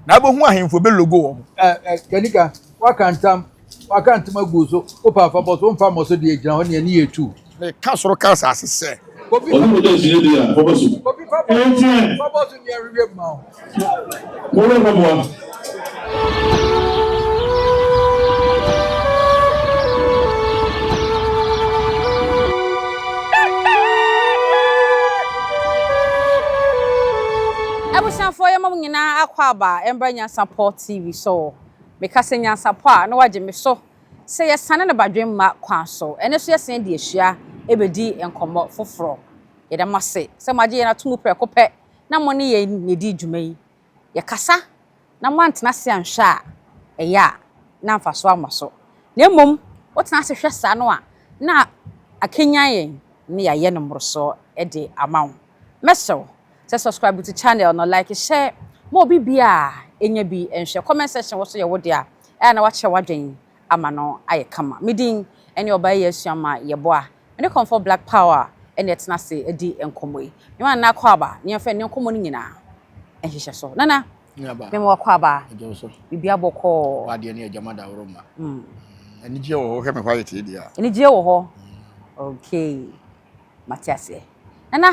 Na abohu ahemfo belogo wɔn. Ɛ ɛ Kanika, woaka ntam, woaka ntam agu so, wopɛ a fa bɔ so, womfa mmɔ so deɛ, gyina hɔ, ne ani yɛ tuu. Meka soro ka asase sɛ. Obi fa bɔ so, obi fa bɔ so, fa bɔ so nea ɛhwehwɛ mu ma wo. Mommrɛ mpaboa. Abusuafoɔ yɛma mo. Hena akwaaba a ɛmba nyansapɔ TV so o? Meka sɛ nyansapɔ a na wagye me so sɛ yɛsane no badwemma kwan so. Ɛnnɛ nso yɛsane de ahyia ɛbɛdi nkɔmmɔ foforɔ. Yɛda mo ase sɛ moagye yɛn ato mu prɛko pɛ na mo ne yɛn na ɛdi dwuma yi. Yɛkasa na moantena ase anhwɛ a, ɛyɛ a na mfasoɔ amma so. Na mmom wotena ase hwɛ saa no a, na akanyan yɛn na yɛayɛ no mmorosoɔ de ama wo. Mɛsrɛ wo Sɛ subscribe to channel no like hyɛ ma obi bia ɛnya bi nhwɛ comment section wɔ so yɛ wo dea ɛa na wakyerɛ wadwen ama no ayɛ kama me din ɛne ɔbaa yi asua ma yɛ boa me ne kɔmfɔ black power ɛna ɛtena se ɛdi nkɔmɔ yi me ma nana akwaaba ne yɛnfa ɛne nkɔmɔ no nyina nhyehyɛ so nana me ma akwaaba bibia bɔkɔɔ wadeɛ ne agyama da woro ma mm. mm. anigyeɛ wɔ hɔ hwɛ me hɔ ayɛ tee deɛ a anigyeɛ wɔ hɔ mm. okay mate aseɛ nana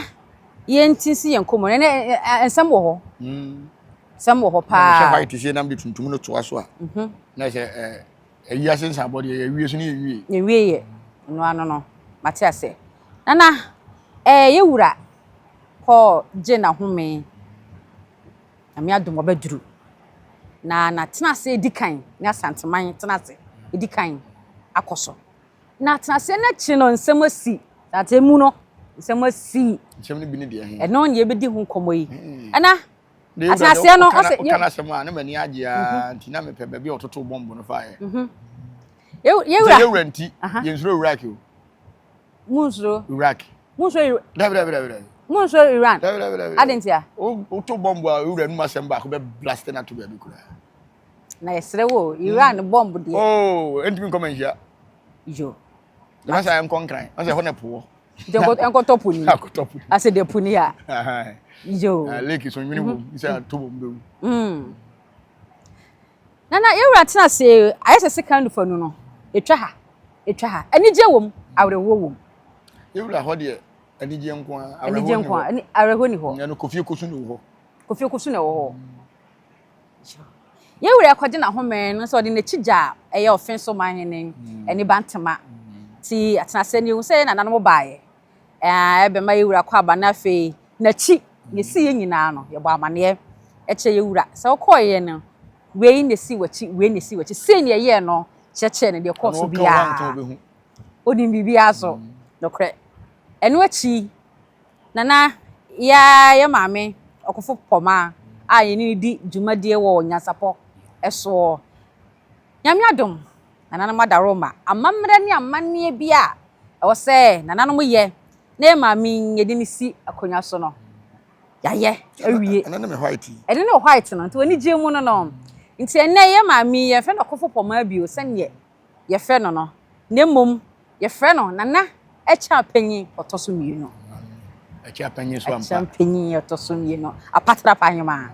yɛnti si yɛn kɔmmɔ nana nsɛm wɔ hɔ nsɛm wɔ hɔ paa sɛ white sɛ nam de tuntum no toa so a mhm. na sɛ ayi ase nsa abɔ deɛ yɛwie so ne yɛwie yɛwie yɛ ɛno ano no mate aseɛ nana ɛɛ yɛwura kɔ gye na home nyame adom ɔbɛduru na na tena ase di kan ne asanteman tena ase di kan akɔ so Na atenaseɛ no akyiri no nsɛm asi. Na atemmu no nsɛm asi. Nsɛm no bi ne deɛ he? Ɛno na yɛbɛdi ho nkɔmmɔ yi. Hmm. Ɛna atenaseɛ no ɔsɛ. Woka no asɛm a na m'ani agye a mhm. nti na mepɛ baabi a ɔtoto bɔmbo no faeɛ. Mhm. Yɛwura. Yɛwura nti yɛnsuro Iraq o. Munsuro. Iraq. Munsuro Iraq. Dabi dabi dabi dabi. Munsuro Iran. Dabi dabi dabi. Adentia. Woto bɔmbo a ewura num asɛm baako bɛ blast na to baabi koraa. Na yɛsrɛ wo o, Iran mm. bɔmb deɛ. Oo, ɛntumi nkɔ ma nhyia. Yo. Yɛma sɛ ɛnkɔ nkran, ma sɛ ɛhɔ na ɛpoɔ. Ɛnkɔtɔ po ni. Ɛnkɔtɔ po ni. Asɛ de po ni a. Yo. Na lake so nwene wom, sɛ ato wom bɛwu. Nana, yɛwura tena ase, ayɛ sɛ sekan nufa nu no, ɛtwa ha, ɛtwa ha. Anigye wom, awerɛhoɔ wom. Yɛwura hɔ deɛ, anigye nko a, awerɛhoɔ ni hɔ. Awerɛhoɔ ni hɔ. Ɛno kofie kosu na ɛwɔ hɔ. Kofie kosu na ɛwɔ hɔ. Yɛn wura rekɔgye n'ahome no nso ɔde n'akyi gya a ɛyɛ ɔfe so ma hene Aniba Ntema. Nti atena sɛ nehu sɛ yɛn nananom baeɛ a ɛbɛma yɛn wura kɔ aba na afei n'akyi na ɛsii yɛn nyinaa no yɛbɔ amaneɛ kyerɛ yɛn wura sɛ wokɔeɛ no wei na ɛsii w'akyi wei na ɛsii w'akyi sei na ɛyɛɛ no kyerɛkyerɛ no deɛ ɛkɔɔ so biara ɔnim biribiara so nokorɛ ɛno akyi Na na yɛ ara yɛ maame ɔkofo pɔma a yɛne no di dwumadie wɔ nyansapɔ soɔ. Nyame adom, nananom adaworoma amammerɛ ne amanneɛ bi a ɛwɔ sɛ nananom yɛ na yɛ maame yi yɛde no si akonnwa so no, yɛayɛ awie. Ɛno ne me white yi. Ɛno ne wo white no, nti w'anigyeɛ mu no no. Nti ɛnnɛ yɛ maame yi yɛmfrɛ no ɔkofo pɔma bio sɛdeɛ. yɛfrɛ no no, na mmom yɛfrɛ no Nana Akyea Panyin Ɔtɔ So Mmienu. Akyea Panyin so ampa. Akyea Panyin Ɔtɔ So Mmienu, Apatra Panyoma.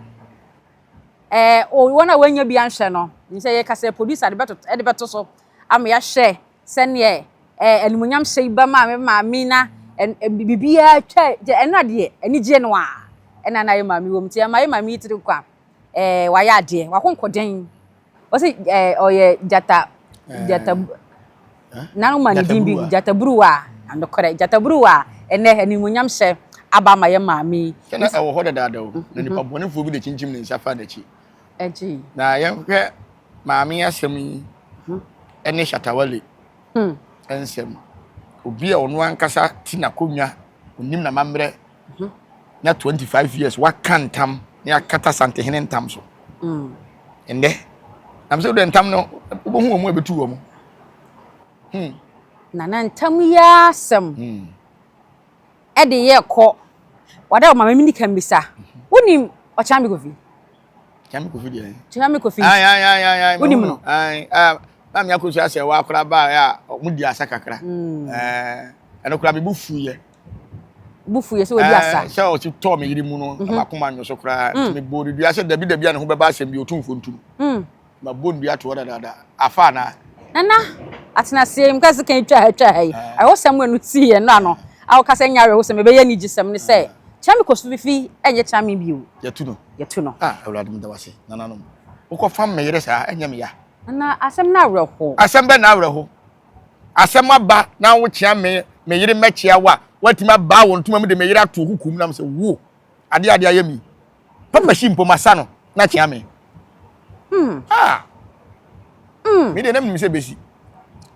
Ɛɛ, wɔn a wɔanya bi anhwɛ no, nim sɛ yɛka sɛ producer de bɛto so ama yɛahwɛ sɛdeɛ ɛɛ animuonyam hyɛ yi bɛma me maame na biribiara twa ɛno adeɛ anigye no a ɛna na yɛ maame wɔ mu nti ɛma yɛ maame yi tiri nkwa. ɛɛ wayɛ adeɛ wakonko dɛn ɔsi ɛɛ ɔyɛ gyata gyata na ɔma ne din bi gyata buruwa anokorɛ gyata buruwa ɛnɛ animonyam hyɛ aba ama yɛ maame yi. sɛ na ɛwɔ hɔ dadaada o na nipa mhm. bɔnefoɔ bi de kyinkyim ne nsa fa n'akyi ɛgye na yɛhwɛ maame asɛm yi mhm. ɛne shatawale hmm. ɛnsɛm obi a ɔno ankasa ti na konnwa onim na mammerɛ ho. Nya twenty five years waka ntam ne akata santehene ntam so ɛnɛ nam sɛ wodɛ ntam no wobɛhu wɔ mu a bɛtu wɔ mu hmm. na na ntam yi asɛm hmm. ɛde yɛ kɔ wɔdɛ ɔma mɛmini ka mmisa mhm. wonim ɔkyame kofi kyame kofi deɛ kyame kofi wonim no na mea kɔsu asɛ wɔ akora baa a ɔmo di asa kakra hmm. ɛno kora mebu fuyɛ bu fu yɛ sɛ wadi asa. Ɛɛ sɛ ɔsi tɔɔ me yiri mu no mhm. abakoma nyo so koraa mm. nti me bɔ ne dua sɛ dabi dabi a ne ho bɛba asɛm bi otumfo ntum mm. ma bɔ ne dua toɔ dadaada afa na. nana atenaseɛ mu kasi kan twa ha twa ha yi ah. awosɛm mu enu ti yɛ no ano awokasa nya awosɛm ebɛyɛ ne gyi sɛm ne sɛ ah. kyerɛ mi kɔ so fifi ɛnyɛ kyerɛ mi bi o. yɛtu no yɛtu no. a awurade mi da wa se nananom wokɔ fam meyere saa ɛnyɛ mi ya. nana asɛm na awerɛho. asɛm bɛ na awerɛho. asɛm aba na wokyea me me yere mɛkyea wo a woatumi abaa wɔ ntoma mu de me yere ato hukum nam sɛ wo adeɛ adeɛ ayɛ mi papa hyi mpo masa no na kyea me mm. ah. mm. me deɛ na menim sɛ bɛsi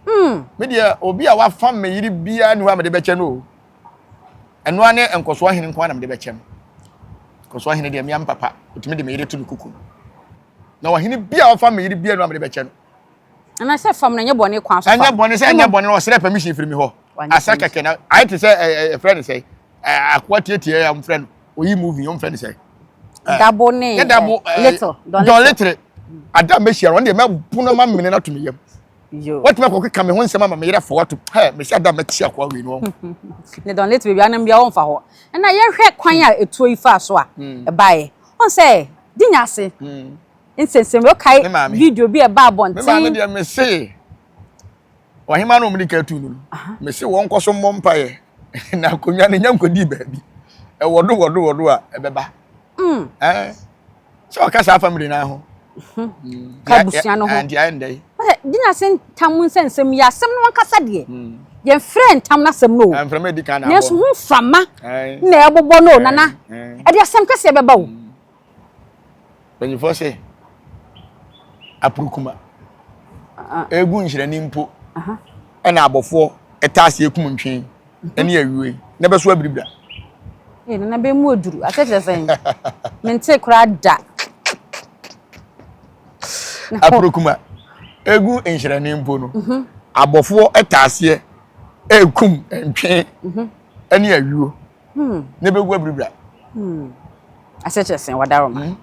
mm. me deɛ obi a wafa me yere biara ne hɔ a mede bɛkyɛ no o ɛnoa ne nkɔsoɔ hene nko a na mede bɛkyɛ no nkɔsoɔ hene deɛ mea mpapa ɔtumi de me yere to no kuku na ɔhene biara wafa me yere biara ne hɔ a mede bɛkyɛ no anaasɛ fam no ɛnyɛ bɔne kwan so fam ɛnyɛ bɔne sɛ ɛnyɛ bɔne ɔsrɛ permission firi mi hɔ asɛ kɛkɛ na ayɛ te sɛ ɛfrɛ ne sɛ akoa tietie a ɔmfrɛ no oyi movie ɔmfrɛ ne sɛ dabo ne yɛ dabo dɔn litre ada mɛhyia no ɔne deɛ mɛpono ma mene no ato me yam watumi akɔ keka me ho nsɛm ama meyerɛ fa wato hɛ mɛhyɛ ada mɛte akoa wei no ne dɔn litre baabi anam bia ɔmfa hɔ ɛna yɛhwɛ kwan a ɛtuo yi faa so a ɛbaeɛ ɔn sɛ di nya ase Nsensen bɛ kae Ne maame. video bi a ɛbaa Me maame abɔnten. deɛ mese ɔhema no ɔmde ka tu no Aha. no mese wɔn nkɔ so mmɔ mpaeɛ na akonnwa no nya nkɔdii baabi ɛwɔ do wɔ do wɔ do a ɛbɛba Mm. Ɛɛ, sɛ ɔka saa family no ho Mm, Ka deɛ- abusua no ho. ɛɛ, deɛ ayɛ ndɛ yi Ɔsɛ gyina ase ntam nsɛnsɛm yi asɛm no ankasa deɛ. Mm. Yɛn frɛ ntam no asɛm no o. ɛmfrɛ ma ɛdi kan na Nanso abɔ ho mframa Ɛɛ, na ɛbobɔ no o nana. ɛɛ, ɛɛ. Ɛde asɛm kɛseɛ bɛba o. Mpanyinfoɔ se aprukuma egu nhyerɛni mpo ɛna abɔfoɔ ɛta aseɛ kum ntwe ɛne awie na ɛbɛ so abiribira. Ee nana bɛ mu oduru akyɛkyerɛ sɛn mente koraa da. Aprukuma egu nhyerɛni mpo no mhm. abɔfoɔ ɛta aseɛ ɛkum ntwe ɛne mhm. awie. Hmm. Ne bɛ gu abiribira. Hmm. Ase kyerɛ sɛn wadaro ma. Hmm.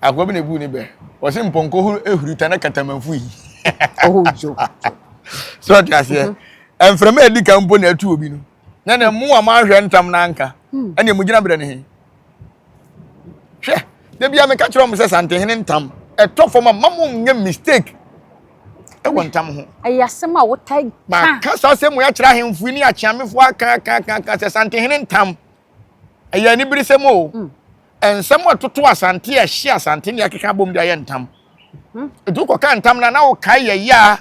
Akwa bi na egu ne bɛ. Wɔsi mpɔnkɔ huru ehuri ta na katamanfu yi. Oho jo. So ɔte aseɛ. Mm-hmm. Mframa edi kan mpo na atu obi no. Na na mu a mahwɛ ntam na anka. Hmm. Ɛna emu gyina brɛ ne he. hwɛ da bia meka kyerɛ wɔn sɛ santehene ntam ɛtɔ fam a mma mo nyɛ mistake ɛwɔ ntam ho ɛyɛ asɛm a wotae ka maka saa asɛm mu akyerɛ ahemfo yi ne akyeamefoɔ aka aka aka aka sɛ santehene ntam ɛyɛ anibere sɛm o hmm. nsɛm a ɛtoto asante a ɛhye asante ne akeka abom de ayɛ ntam hmm. ɛtu kɔka ntam no na wokae yɛyɛ a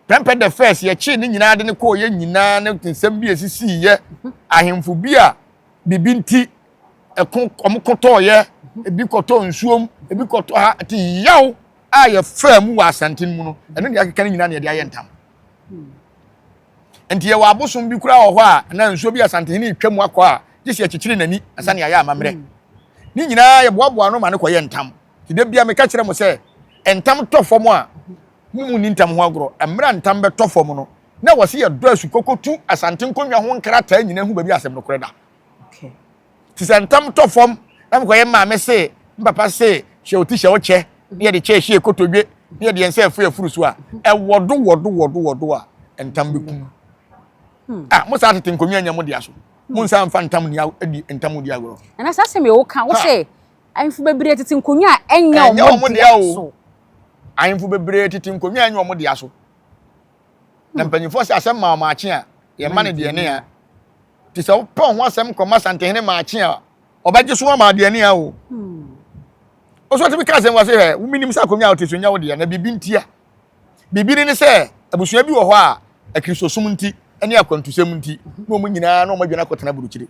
pɛmpɛ the first yɛkyee ne nyinaa de ne kɔɔ yɛ nyinaa ne nsɛm bi a ɛsisiiyɛ hmm. ahemfo bi a biribi nti ɛko wɔn kɔtɔɔyɛ ebi kɔtɔɔ nsuom ebi kɔtɔ ha te yaw a yɛfaa mu wɔ asante no mu no ɛno deɛ akeka no nyinaa na yɛde ayɛ ntam nti yɛwɔ abosom bi koraa wɔ hɔ a na nsuo bi asantehene retwa mu akɔ a gye sɛ akyikyiri n'ani asane ayɛ amammerɛ mm. ne nyinaa yɛboaboa no ma no kɔyɛ ntam nti da bia meka kyerɛ mo sɛ ntam tɔ fam a mumu ni ntam ho agorɔ mmerɛ ntam bɛtɔ fam no na ɛwɔ sɛ yɛdɔ asu kɔkɔtu Asante nkonnwa ho nkrataa nyinaa hu baabi a asɛm nokorɛ da. Te sɛ ntam tɔ fam na mekɔyɛ mmaame se, mpapa se, hyɛ ɔti hyɛ ɔkyɛ, ne yɛde kyɛ hyɛ kotodwe, ne yɛde yɛn nsa afiri afuru so a, ɛwɔ do wɔ do wɔ do wɔ do a, ntam bɛkum. Hmm. Ah, mo saa tete nkonnwa nyɛ mo dea so. Hmm. Mo nsa mfa ntam ni adi ntam odi agorɔ. Ɛna saa asɛm yɛ wo ka wo sɛ ahemfo bebree tete nkonnwa a ɛnyɛ wɔn dea so. Ahemfo bebree tete nkonnwa a ɛnyɛ wɔn dea so. na hmm. mpanyinfoɔ sɛ asɛm maa maakye a yɛma no deɛ ne a te sɛ wopɛ ho asɛm kɔma santehene maakye a ɔbɛgye so ama adeɛ ne a o ɔso hmm. tumi ka asɛm wɔ se hɛ womenim sɛ akonnwa a wote so nya wo deɛ na biribi ntia biribi ne sɛ abusua bi wɔ hɔ a akristosom nti ne akwantusɛm nti na wɔn nyinaa na wɔn adwene akɔtena burukyire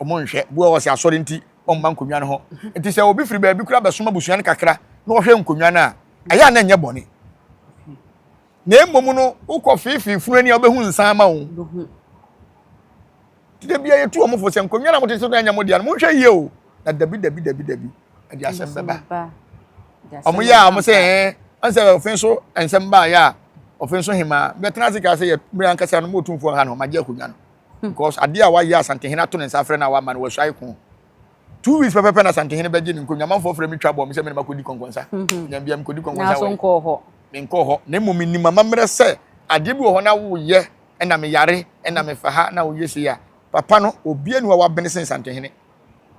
wɔn nhwɛ bu a wɔsɛ asɔre nti wɔn mma nkonnwa no ho hmm. nti sɛ obi firi baabi kura bɛsoma abusua no kakra na wɔhwɛ nkonnwa no a ɛyɛ a na ɛnyɛ bɔne na mmom no wokɔ feefee funu ani a wobɛhu nsa ama wo nti da bia yɛtu wɔn fo sɛ nkonnwa na mote so no ɛnyɛ mo deɛ no monhwɛ yie o na dabi dabi dabi dabi ɛde asɛm bɛba wɔn yɛ a wɔn sɛ ɛɛ ansɛ ɔfin so nsɛm baayɛ a ɔfin so hemaa bɛtena ase kaa sɛ yɛ mmiri ankasa no mo otumfoɔ ha no ɔmagye akonnwa no hmm. because adeɛ a wayɛ asantehene ato ne nsa afrɛ no a wama no wɔasuae ko Two weeks pɛpɛpɛ na Asantehene bɛgye ne nkonnwa. Amanfoɔ frɛ me twa bɔɔ me sɛ me ne ma kɔdi kɔnkɔnsa. Nya bia mekɔdi kɔnkɔnsa wɔ. Nanso nkɔɔ hɔ. Menkɔɔ hɔ. Na mmom menim amammerɛ sɛ adeɛ bi wɔ hɔ na woyɛ na meyare na mefa ha na woyɛ sei a, papa no, obiara nni hɔ a wabene sen Asantehene.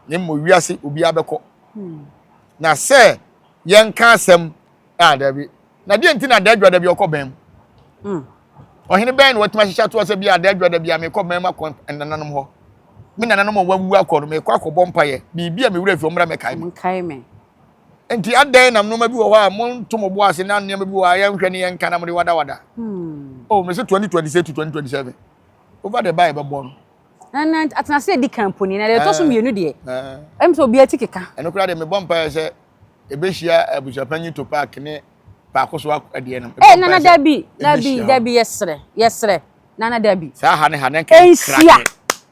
Na mmom wiase obiara bɛkɔ. Na sɛ yɛnka asɛm a, daabi, Na deɛ nti na adaadwada bi ɔkɔ bɛn mu hmm. ɔhene bɛn na watumi ahyehyɛ atoɔ sɛ bia adaadwada bi a mekɔ bɛn mu akɔ nananom hɔ me nananom a wawu akɔ no mekɔ akɔbɔ mpaeɛ biribi a mewura fi ɔmmra mɛkae me nti adɛn nam nneɛma bi wɔ hɔ a monto mo bo ase na nneɛma bi wɔ hɔ a yɛnhwɛ ne yɛnka na mode wadawada hmm. oh mese 2026 to 2027 over the bible bɔ no na atenase edi kan poni na deɛ ɛtɔ so eh. mmienu deɛ eh. ɛmu sɛ obi ati keka ɛno koraa deɛ mebɔ mpaeɛ sɛ ebehyia abusuapanyin Topak ne Paako so adeɛ no. Ɛɛ nana dabi dabi dabi yɛsrɛ yɛsrɛ nana dabi. Saa ha ne ha na nka nhyia.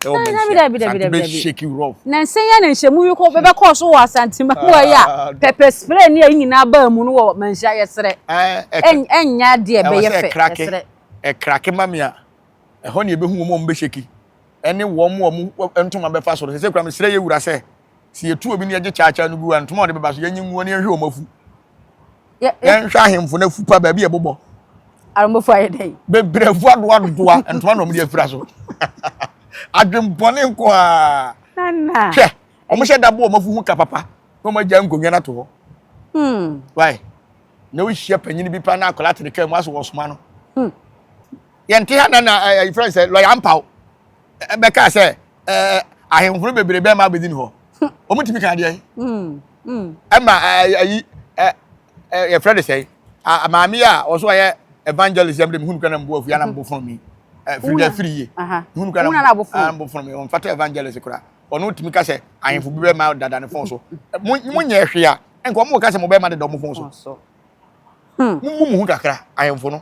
Dabi dabi dabi dabi dabi. Na nsɛn yɛ na nhyɛmu yi kɔ bɛbɛ kɔɔ so wɔ asante ma wɔ yi a pɛpɛ spray ne ɛyi nyinaa baa mu no wɔ manhyia yɛsrɛ. Ɛnyɛ adeɛ bɛyɛ fɛ yɛsrɛ. Ɛkrake ma me a ɛhɔ ne ebehu wɔn a wɔn bɛhyɛ ki ɛne wɔn a wɔn ntoma bɛfa so no sɛ sɛ kura mesrɛ yɛ wura sɛ Sɛ yɛtu obi na yɛgye kyaakyaa no gu a, ntoma a ɔde bɛba so, yɛnyi nguo na yɛnhwɛ wɔn afu. Yɛnhwɛ ahemfo no afu pa baabi a ɛbobɔ. Aromofo ayɛ dɛn? Bebree afu adoadoa ntoma na wɔde afira so. Adwembɔne nko ara. Hwɛ, wɔhyɛ da bɔ wɔn afu ho ka papa na wɔagya nkonnwa no ato hɔ. Hmm. Why? Na wohyia panyin bi pa na akwadaa te ne kaa mu aso wɔsoma no. Hmm. Yɛnte ha na na ɛfrɛ eh, eh, sɛ lɔya mpaw. bɛkaa sɛ ɛɛ ahenhoro bebree bɛma abɛdi ne hɔ wɔn tumi kan deɛ ɛma ayi ɛ ɛ yɛfrɛ de sɛ maame a ɔso ayɛ evangelist yɛm de mi hunu kana mbu afua na mbu fɔn mi firi dɛ firi yie hunu kana mbu fɔn mi wɔn fata evangelist kora ɔno tumi ka sɛ ahemfo bi bɛma dada ne fɔn so mo mo nyɛ hwee a nka wɔn ka sɛ mo bɛma deda wɔn fɔn so mo mu mu ho kakra ahemfo no.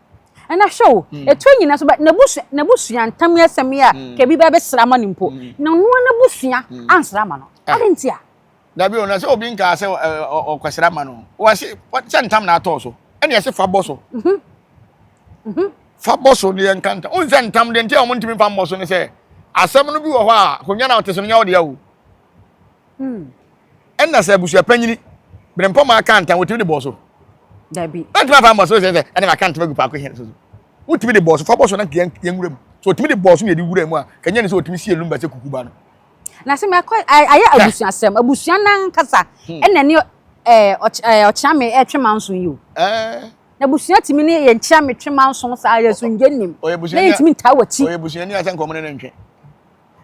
Ɛna hwɛ o, ɛtɔ nyina so ba n'abusua ntam yɛ asɛm yi a, ka ebi bɛ bɛsra ama no mpo, na ɔno ara n'abusua ansra ama no. Adɛn nti a? Dabi o, na sɛ obi nkaa sɛ ɔkɔsra ama no, wɔse sɛ ntam na atɔ so, ɛna yɛse fa bɔ so. Fa bɔ so ne yɛnka ntam. Wohu sɛ ntam deɛ nti a wɔntumi mfa mmɔ so ne sɛ, asɛm no bi wɔ hɔ a, akonnwa na wote so no nyɛ wo dea o. Hmm. ɛna sɛ abusua panyini bere mpɔma aka ntam wotumi de bɔɔ so dabi ɛntumi afa mbɔ so sɛ sɛ ɛna maka ntoma gu paako hɛn so so wotumi de bɔɔ so fa bɔ so na yɛn yɛn wura mu so wotumi de bɔɔ so na yɛde wura mu a kanyɛ ne sɛ wotumi sie lumba sɛ kukuba no na sɛ mɛkɔ ayɛ abusuasɛm abusua nankasa hmm. ɛna ne eh, eh, ɔkyerɛme ɛtwe eh, manso yi o na abusua tumi ne yɛ nkyerɛme twe manso saa yɛ so ngye nim na yɛtumi ntaa wɔ akyi ɔyɛ abusuani asɛ nkɔmɔ ne ne ntwe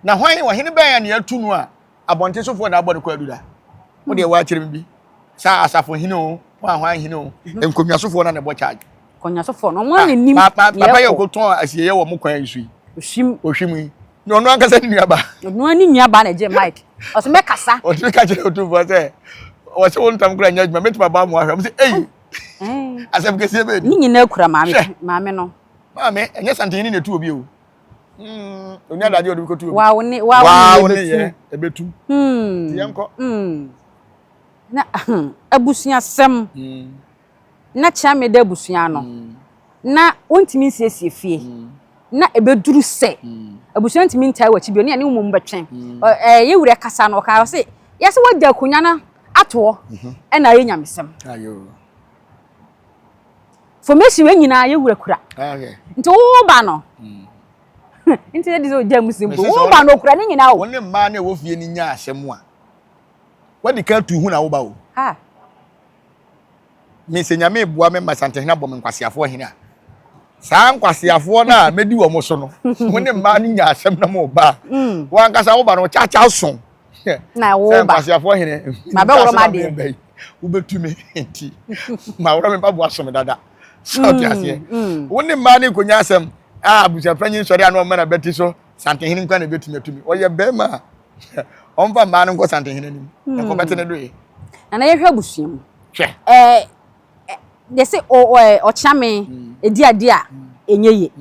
na hwan ɔhene bɛn a ne atu no a Abɔnten sofoɔ na abɔ ne kwaadu da. Wo deɛ woakyerɛ me bi. Sɛ asafo hene o, ho a hwan hene o, nkonnwa sofoɔ na na ɛbɔ charge. Nkonnwa sofoɔ no, wɔn na ɛnim deɛ ɛkɔ. Papa yɛ ɔkɔtɔn asieɛ wɔ mo kwan yi so yi. Ohwim. Ohwim yi. Na ɔno ankasa ne nua ba. Ɔno ne nua ba na ɛgye mic. Ɔsɛ mɛ kasa. Ɔtumi ka kyerɛ otumfoɔ sɛ, ɔsɛ wɔn ntam kura nyɛ adwuma, mɛtumi aba mo ahwɛ. Ɔmo sɛ, ei, asɛm kɛseɛ bɛɛ ni. Ne nyinaa kura maame, maame no. Maame, ɛnyɛ santehene na ɛtu obi o. Mm, onya dade ɔde kotu. Wa wo ne wa wo ne yɛ ebetu. Mm. Yɛ nkɔ. Mm. Na abusua sɛm. Mm. Na kyerɛ me da abusua no. Mm. Na wontumi nsiesie fie. Mm. Na ebeduru sɛ. Mm. Abusua ntumi ntaa wakyi bi ne ne mmom bɛtwɛn. Mm. Eh, yɛ wura kasa no ɔka ɔse yɛsɛ wagya akunya no atoɔ. Mm-hmm. Ɛna ayɛ nyamesɛm. Ayo. fomesi wei nyinaa yɛ wura kura nti wo ba no hmm. nti yɛ de sɛ ɔgya mu si mpo wo ba no ɔkura ne nyinaa o. wɔn ne mmaa na ɛwɔ fie ni nya asɛm a wɔde ka tu hu na wo ba o. mesɛ nyame eboa me ma santehena bɔ me nkwaseafoɔ hene a saa nkwaseafoɔ no a mɛdi wɔn so no mo ne mmaa no nya asɛm na mo ba hmm. wɔn ankasa wo ba no ɔkyakya so. na wo ba sɛ nkwaseafoɔ hene mabɛworɔ ma deɛ mba yi wobɛtu me nti maworɔ me baboa som dada sɛ mm, ɔte aseɛ mm. wo ne mmaa ne nkɔnya asɛm a abusuafa nyi nsɔre a na ɔma na bɛte so santehene nkwa na ɛbɛtumi atumi ɔyɛ bɛrima a ɔmfa mmaa no nkɔ santehene anim mm. ɛkɔ bɛte ne doyɛ nana yɛhwɛ abusua mu hwɛ Ɛ yɛ se o ɔ ɛ ɔkyea me ɛdi adeɛ a ɛnyɛ ye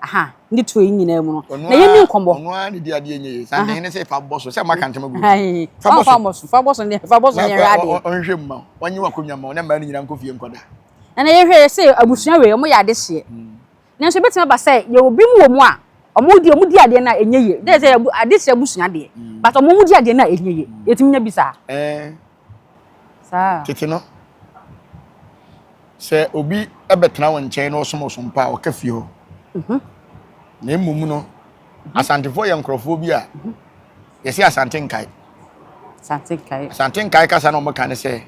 aha ne to yi nyinaa mu no Ɔno na yɛ ara ni nkɔmɔ. ɔno ara na ɛdi adeɛ ɛnyɛ ye saa dehene se fa bɔ so sɛ moaka ntem agu wo so Aii fa bɔ so. ɔmfa mmɔ so fa bɔ so ne fa bɔ so Na ne yɛnhwɛ koraa adeɛ. ɔnhwɛ mu ma wo ɔnye wo akonnwa ma wo na mmaa no nyinaa nkɔ fie nkɔda. Ɛna yɛhwɛ yɛ se abusua wei ɔmo yɛ adehyeɛ Nanso ebetumi aba sɛ yɛwɔ binom wɔ mu a wɔn deɛ wɔdi adeɛ no a ɛnyɛ yie. Dɛ sɛ yɛ ade kyerɛ abusua deɛ, but wɔn di adeɛ no a ɛnyɛ yie. Yɛtumi nya bi saa? Ɛɛ. Saa. Tete no, sɛ obi bɛtena wo nkyɛn na ɔsom ɔsom pa a, ɔka fie hɔ. Na mmom no, Asantefoɔ yɛ nkurɔfoɔ bi a yɛse Asante nkae. Asante nkae. Asante nkae kasa na wɔka ne sɛ,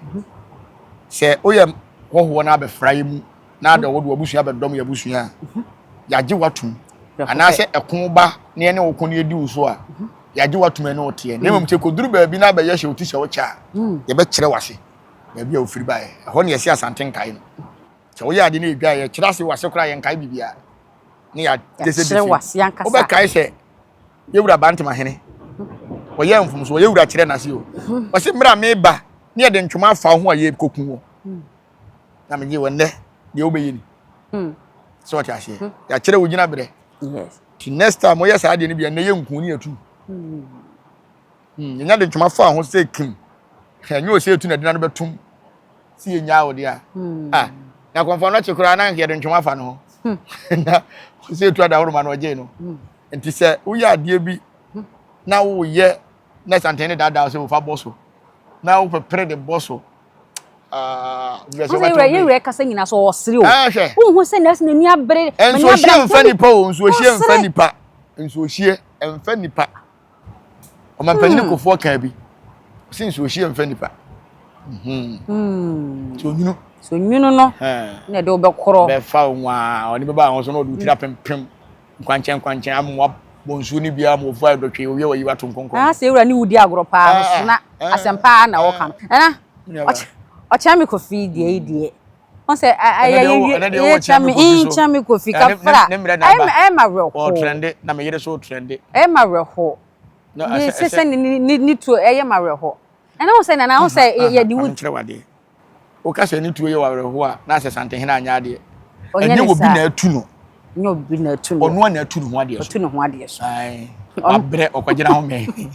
sɛ woyɛ hɔhoɔ na abɛfra yɛ mu na adɛ wode w'abusua bɛdɔm yɛ abusua a yɛagye w'atom anaasɛ ɛko ba na ɛne wo ko no yɛdi wo so a yɛagye w'atom ɛne wo teɛ na mmom sɛ kɔduru baabi na abɛyɛ hyɛ wo ti sɛ wokyɛ a yɛbɛkyerɛ w'ase baabi a wofiri baeɛ ɛhɔ ne yɛse asante nkae no sɛ woyɛ ade no ɛdwa yɛkyerɛ ase w'ase koraa yɛnkae biribiaa ne yɛkyerɛ wobɛkae sɛ yɛwura bantema hene wɔyɛ mfomso wɔyɛ wura kyerɛ n'ase o wɔse mmerɛ a meba ne yɛde ntwoma afa ho a yɛkɔku wɔ na megye wɔ nnɛ deɛ wobɛyɛ ni hmm. sɛ ɔte aseɛ hmm. yɛakyerɛ wo gyina berɛ nti next time woyɛ saa deɛ no bia nnɛ yɛ nku ne atu yɛnya de ntwoma faa ho sɛ kim ɛnyɛ ɔ sɛ ɛtu na dina no bɛtom sɛ yɛnyaa wo deɛ a ah, na kɔmfa no kye koraa na yɛde ntwoma fa no ho na sɛ ɛtu adaworoma no ɔgyee no nti sɛ woyɛ adeɛ bi na woyɛ na santene ne daadaa sɛ wofa bɔ so na wopɛpere de bɔ so Ah, nyɛ sɛ ɔbɛtɔ bi. Yɛwerɛ kasa nyina sɛ ɔsere o. Ɛhwɛ. Wohu sɛ nɛɛse n'ani abere. Nsuohyie mfa nipa o, nsuohyie mfa nipa. Nsuohyie mfa nipa. Ɔmampanin hmm. kofoɔ kaa bi. Ɔsi nsuohyie mfa nipa. Hmm. Hmm. So nyunu. So nyunu no. Na ɛde wobɛkorɔ. Bɛfa wo nwaa, ɔne bɛba ahosuo na ɔde wo tiri apempem. Nkwankyɛn nkwankyɛn amoa bɔ nsuo no biara ma wɔfu ayɛ dɔtwee, owia wayi wato nkɔnkɔn. Ɛna sɛ yɛwura ne wodi agorɔ paa no so na asɛm paa na wɔka no. Ɛna ɔkyɛn me kofi deɛ yi deɛ. Wɔn sɛ ayɛ yɛ kyɛn me in kyɛn me kofi kafra. Ɛyɛ ma werɛ ho. Ɔtrɛnde na me yere so ɔtrɛnde. Ɛyɛ ma werɛ ho. Ne sɛ ne tuo ɛyɛ ma werɛ ho. Ɛna wɔn sɛ nana wɔn sɛ yɛ de wudi. Woka sɛ ne tuo yɛ w'awerɛhoɔ a, na asɛ Santehene anyɛ adeɛ. Ɛnyɛ obi na atu no. Ɛnyɛ obi na atu no. Ɔno a na atu ne ho adeɛ so. Ɔtu ne ho adeɛ so. Wabrɛ ɔkɔgyina ho mɛn.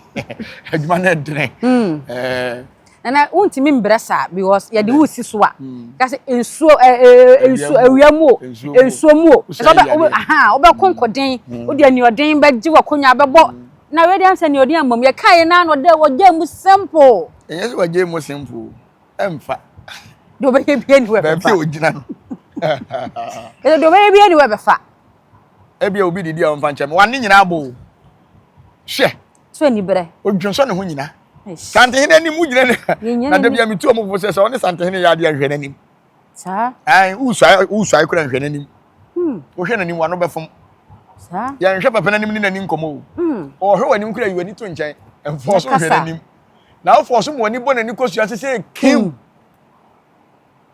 Adwuma no ɛdene. Hmm. Nana wontumi mbrɛ saa because yɛde wo si so a kasi nsuo ɛɛ nsuo awia mu o nsuo mu o ɛsɛ ɔbɛ ɔbɛ ahan ɔbɛ kɔnkɔden o deɛ ni ɔden bɛ gye wɔ konya bɛ bɔ. Na wei de ansa ni ɔde ama mu. Yɛ kae na no dɛ wɔ gya mu simple. Ɛnyɛ sɛ wɔ gya mu simple o. Ɛmfa. Deɛ ɔbɛyɛ bia ni wɔ ɛbɛfa. Baabi a ɔgyina no. Ɛsɛ deɛ ɔbɛyɛ bia ni wɔ ɛbɛfa. Ebia obi didi a ɔmfa nkyɛn me. Wɔn ne nyinaa bɔ o. Hwɛ. So ani brɛ. Odwonsɔ ne ho nyina. Santehene anim wogyina ne. Na da bia metu ɔmo fo sɛ sɛ ɔne santehene yɛ adeɛ nhwɛ n'anim. saa ɛn wosuae wosuae kura nhwɛ n'anim hmm. wohwɛ n'anim wano bɛfom saa yɛnhwɛ papa n'anim ne n'ani nkɔmɔ o hmm. ɔhwɛ w'anim kura yi w'ani to nkyɛn ɛnfɔɔ so nhwɛ n'anim na afɔɔ so ma w'ani bɔ n'ani kɔ sua sese kiw hmm.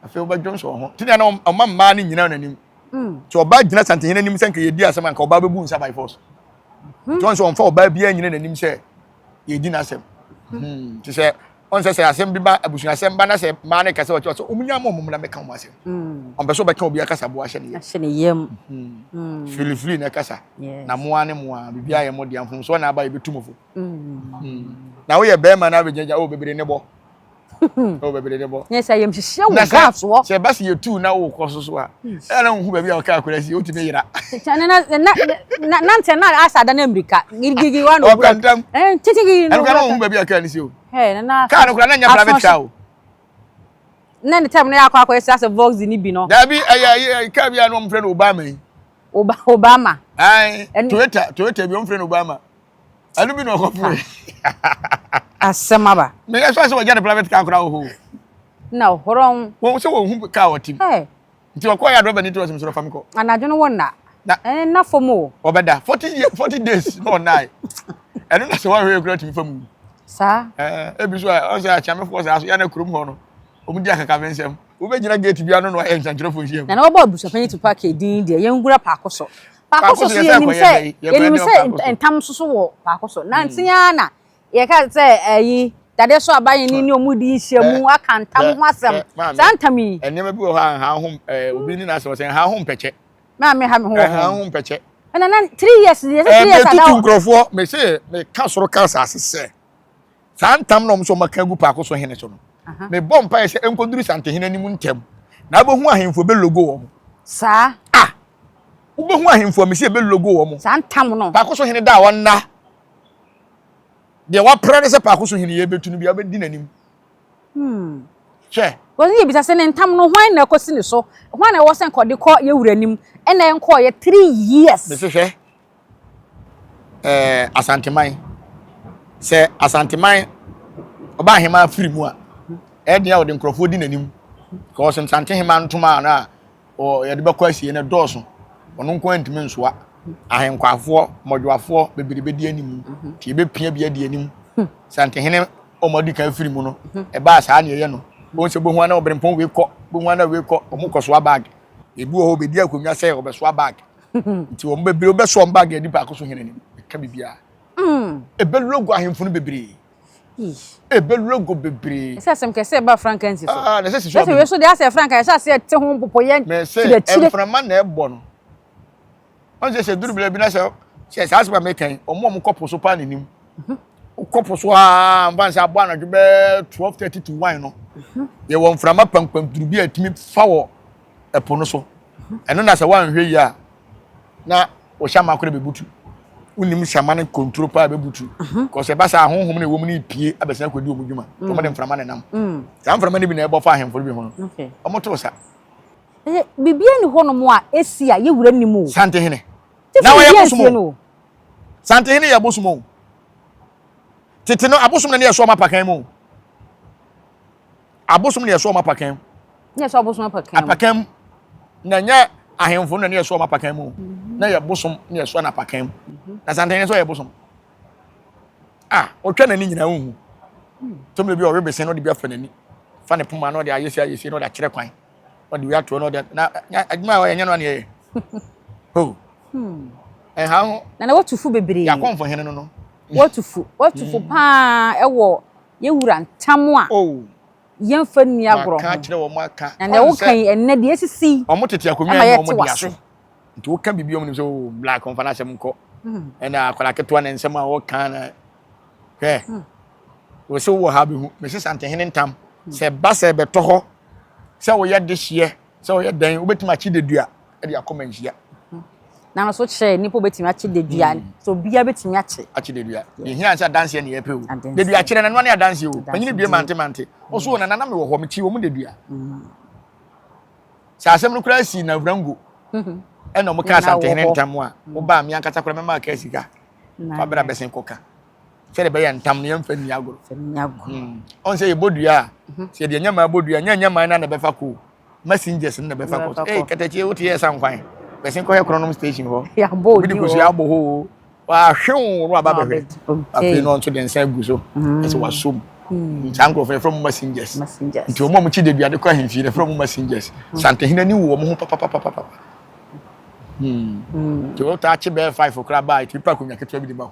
afei wobɛdwom so ho te deɛ na ɔma mmaa no nyina n'anim nti ɔbaa gyina santehene anim sɛ nka yɛdi asɛm anka ɔbaa bɛbu nsa by force nti ɔn sɛ ɔmfa ɔbaa biara nyina n'anim sɛ yɛdi n'asɛm hmm. te sɛ ɔnsɛ sɛ asɛm bi ba abusuasɛm ba na sɛ mmaa no kasa wɔkyɛ sɛ ɔmunya ma ɔmom na mɛka ɔmo asɛm hmm. ɔmpɛ sɛ ɔbɛka obi akasa boa hyɛ ne yam hmm. filifili na ɛkasa na mmoa ne mmoa biribiara yɛ mo deɛ mfomsoɔ na aba yɛbɛtu mo fo na woyɛ bɛrima na abɛgyagya o bebree ne bɔ ɛwɔ baabi de ne bɔ. yɛ sɛ ayamhyehyeɛ wɔ gas wɔ. sɛ ɛba sɛ yɛtuu na wokɔ so so a ɛna na wohu baabi a ɔka akora si wotumi yera na ntɛ na asa da no mmirika girigirigi wa na ɔwura ntam titigiri na ɔwura wohu baabi a kaa no si o kaa no kora na nyɛ pra bɛtra o na ne tam no yɛ akɔ akɔ ɛsɛ sɛ vox ne bi no daabi ɛyɛ kaa bi a na ɔmfrɛ no obama yi obama toyota toyota bi ɔmfrɛ no obama ɛno bi na ɔkɔ fo asɛm aba na yɛ sɔ sɛ wɔgya ne private car koraa wɔ hɔ na ɔhorɔn wɔn sɛ wɔn hu car wɔte mu nti ɔkɔ yɛ adrɔba ne ti ɔsɛm sɛ ɔfa me kɔ anadwo no wɔn na ɛne na fam o ɔbɛda forty year forty days na ɔnae ɛno na sɛ wɔhwɛ kura tumi fam saa ɛɛ ebi nso a ɔsɛ akyɛmɛfoɔ saa so yɛ na kurom hɔ no wɔn di akakabɛ nsɛm wobɛgyina gate bi ano na wɔayɛ nsɛntwerɛfoɔ nhyia mu na na wɔbɔ abusuapanyin tu paaki din deɛ yɛn nwura paako so Paako so so yɛnim sɛ yɛnim sɛ ntam so so wɔ paako so na nti ara na yɛka sɛ ɛyi dadeɛ so aba yɛn ni ɔmo di nhyia mu aka ntam ho asɛm saa ntam yi. nneɛma bi wɔ hɔ a nha ho obi ne n'asɛm sɛ nha ho mpɛkyɛ. maame ha me ho wɔ nha ho mpɛkyɛ. ɛna na three years yɛ sɛ three years ada hɔ. ɛɛ mɛ tutu nkurɔfoɔ mɛ sɛ mɛ ka soro ka asase sɛ Saa ntam na wɔn nso wɔaka agu Paako so hene so no, mebɔ mpaeɛ sɛ ɛnkɔduru Santehene anim ntɛm, na wobɛhu ahemfo a ɛbɛlogo wɔn. Saa. A! Wobɛhu ahemfo a mese ɛbɛlogo wɔn. Saa ntam no. Paako so hene da hɔ nna. Deɛ wapra ne sɛ Paako so hene yɛ bɛtu no bia wobɛdi n'anim. Hmm. Hwɛ. Wɔn yɛ bisa sɛ ne ntam no hwan na ɛkɔsi ne so, hwan na ɛwɔ sɛ nkɔde kɔ yɛ wura anim, ɛna ɛnkɔɔ yɛ three years. Mese hwɛ. ɛɛ Asanteman. Sɛ Asanteman ɔba aheman afiri mu a, ɛyɛ den a wɔde nkurɔfoɔ di n'anim. Because Nsante heman ntoma a na yɛde bɛkɔ asie no dɔɔso. Ɔno nko ara ntumi nsoa. Ahenkwafoɔ, mmɔdwoafoɔ bebree bɛdi anim. Mhm. Nti yɛbɛpia bi adi anim. Hmm. Santehene wɔn adi kan afiri mu no, mhm. ɛbaa saa na ɛyɛ no. Wɔn sɛ bohu ana ɔbrempɔn wei kɔ, bohu ana wei kɔ, wɔn kɔ soa bag. Ebi wɔ hɔ, obedi akonnwa sɛ ɔbɛsoa bag. nti wɔn bebree wobɛso wɔn baage adi baako so hene anim ɛka biribiara mm. ɛbɛlogo ahemfo no bebree ɛbɛlogo bebree ɛsɛ asɛm kɛsɛ ɛba franka nsi so ah, na ɛsɛ sisi ɔbɛn so deɛ asɛ franka ɛsɛ asɛ ɛte ho mpopoyɛ kyerɛkyerɛ mɛsɛ mframa na ɛbɔ no wɔn sɛ sɛ duru bila bi na sɛ sɛ saa asɛm a mɛkan wɔn a wɔn kɔ po so paa n'anim mhm. kɔ po so aa nfa nsɛ abɔ anadwo bɛɛ twelve thirty to one no mhm. yɛ wɔ mframa pampam duru bi a ɛtumi fa wɔ ɛpo no so. Ɛno na sɛ woanhwɛ yie a na wo hyɛma koraa bɛbutu. Wonim hyɛma no konturo paa bɛbutu. Kɔsɛ ɛba saa honhom no ɛwɔ mu no repie abɛsan akɔdi wɔn dwuma. Nti wɔde mframa na ɛnam. Saa mframa no bi na ɛbɔ fa ahemfo no bi ho no. Wɔto sa. Biribiara nni hɔnom a ɛsi a yɛwura nnim o. Santehene. Na wɔyɛ bosom o. Santehene yɛ bosom o. Tete no abosom na ne yɛ so ɔma pakan mu o. Abosom na yɛsɔ wɔn apakan. Na yɛsɔ abosom apakan mu. Apakan mu. Na nyɛ ahemfo no na ne yɛsɔ wɔn apakan mu. Mhm. Na yɛ bosom na yɛsɔ no apakan mu. Mhm. Na santan yɛsɔ yɛ bosom. A ɔtwa n'ani nyinaa nhu. Hmm. Tɔmire bi ɔwe besen na ɔde bi afɛ n'ani. Fa ne poma na ɔde ayɛsi ayɛsi na ɔde akyerɛ kwan. Ɔde wia toɔ na ɔde na adwuma a ɔyɛ nyɛ no a na yɛyɛ. Ho. Hmm. Ɛha ho. Na na wɔtufo bebree. Yɛakɔmfo hene no no. Wɔtufo. Wɔtufo hmm. paa ɛwɔ Yɛwura ntam a, yɛmfa nni agorɔ ho. Na nea woka yi ɛnnɛ deɛ asisi yi ɛma yɛte w'ase. nti woka biribi ɔmo nim sɛ o black ɔmfa n'asɛm nkɔ ɛna akwadaa ketewa ne nsɛm a ɔka na hwɛ wɔsi wɔ ha bɛhu mesi santehene ntam sɛ ba sɛ bɛtɔ hɔ sɛ woyɛ dehyeɛ Sɛ ɔyɛ dɛn, wobɛtumi akye dedua de akɔ manhyia. Na no so kyerɛ nnipa wobɛtumi akye dedua. Mm. So obiara bɛtumi akye. Akye dedua. Yɛhia sɛ adanseɛ ne yɛpɛ o. Dedua kyerɛ nanoa ne adanseɛ o. Panyini bie mante mante. Ɔso o nana na mewɔ hɔ mekyee wɔn dedua. Mm. Sɛ asɛm no koraa si na wurango. Mm-hmm. Ɛna wɔn kaa asantehene ntam a. Wobaa mm. me ankasa koraa mɛma aka sika. Fabra bɛsen kɔka. sɛdeɛ ɛbɛyɛ ntam no yɛmfa nni agorɔ hmm. ɔn sɛ yɛbɔ dua a mhm. sɛ yɛde nyɛmaa bɔ dua nyɛ nyɛmaa no na ɛbɛfa kɔ messengers no na ɛbɛfa kɔ ei kɛtɛkye wote yɛ sa nkwan bɛsen kɔhɛ kronom station hɔ obi de kosua abɔ hɔ o wahwew no aba bɛhwɛ afei no nso de nsa agu so mhm. ɛsɛ wasɔ mu hmm. saa nkurɔfo yɛfrɛ mu messengers nti wɔn a wɔkyi de duade kɔ ahemfie no yɛfrɛ mu messengers mhm. santehene ni wɔ wɔn ho papapapapa nti wɔtaa kye bɛɛ five koraa baa ɛtumi pa akonnwa ketewa bi de ma hɔ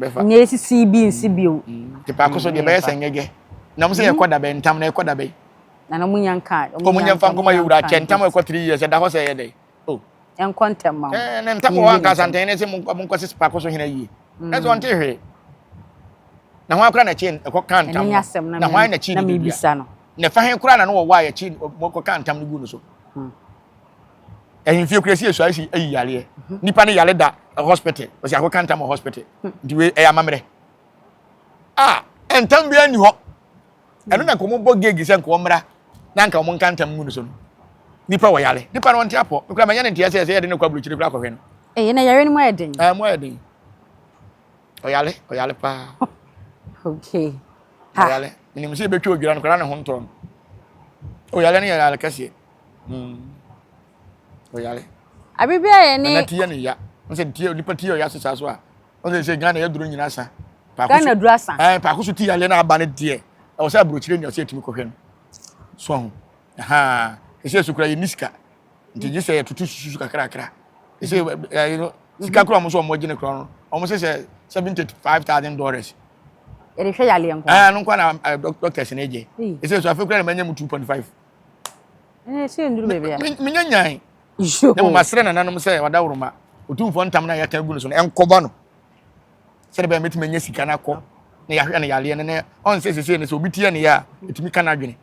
bɛfa. Nyɛ esisi bi nsi bio. Te paako so deɛ bɛyɛ sɛ nyɛgɛ. Na ɔmo sɛ yɛ kɔ dabɛn ntam na yɛ kɔ dabɛn. Na na ɔmo nya nka. Ɔmo nya nfa nkɔma yɛ wura kyɛ ntam ɛkɔ three years ɛda hɔ sɛ ɛyɛ dɛn. Oh. Ɛnkɔ ntɛm ma wo. Ɛɛ na ntam wɔ hɔ anka asantɛn ne se mo nkɔ sisi paako so hena yie. Ɛsɛ ɔnte hwee. Na hwan kora na ɛkye ɛkɔ ka ntam no. Na hwan na ɛkye ne dua. Na ɛfa he kora na no wɔ wɔ a yɛkye mo kɔ ka ntam no gu no so. ɛhemfie kura si esu ayɛ si eyi yareɛ nipa ne yare da hospital ɔsi akɔ kanta ma hospital nti wei ɛyɛ amammerɛ a ntam bi ani hɔ ɛno na nkɔmɔ bɔ geegi sɛ nkɔmɔ mmra na nka wɔn nka ntam mu no so no nipa wɔ yare nipa no wɔn ti apɔ nkura mɛ nyɛ ne nteɛ sɛ ɛsɛ yɛ de ne kɔ aburukyiri kura akɔhwɛ no. ɛyɛ na yare no mu ayɛ den. ɛɛ mu ayɛ den ɔyare ɔyare paa. okay ha ɔyare nim sɛ ebetwa odwira no kura ne ho ntɔn ɔyare no yɛ yare kɛseɛ. Hmm. Oyare. Abiri bi a yɛ ne. Nana ti yɛ ne ya. N sɛ ti nipa ti yɛ ɔya sisan so a. N sɛ sɛ Ghana yɛ duro nyina sa. Ghana duro asa. Ɛɛ paako so ti yɛ na aba ne deɛ. Ɛwɔ sɛ aburokyire ni ɔsɛ etimi kɔhwɛ no. So ho. Ɛhaa. Ɛsɛ yɛ sukura yɛ ni sika. Nti gye sɛ yɛ tutu susu kakrakra. Ɛsɛ yɛ mm-hmm. ɛɛ no sika kura ɔmo so ɔmo gye ne kura no. Ɔmo sɛ sɛ seventy five thousand dollars. Yɛde hwɛ yɛ aleɛ nkwa. Ɛɛ no nkwa na doctors na egye. Ɛsɛ yɛ so afɛ kura na ma nye mu two point five. ɛnna ɛhyɛ nduru baabi a. menyɛ nyan na moma serɛ nananom sɛ wadaworoma ɔtumfoɔ ntam no a yɛaka agu no so no ɛnkɔbɔ no sɛde bɛyɛ mɛtumi anya sika no akɔ na yɛahwɛ no yareɛ no na ɔnsɛ sesei no sɛ obi teɛ ne yɛ a ɛtumi ka no adwene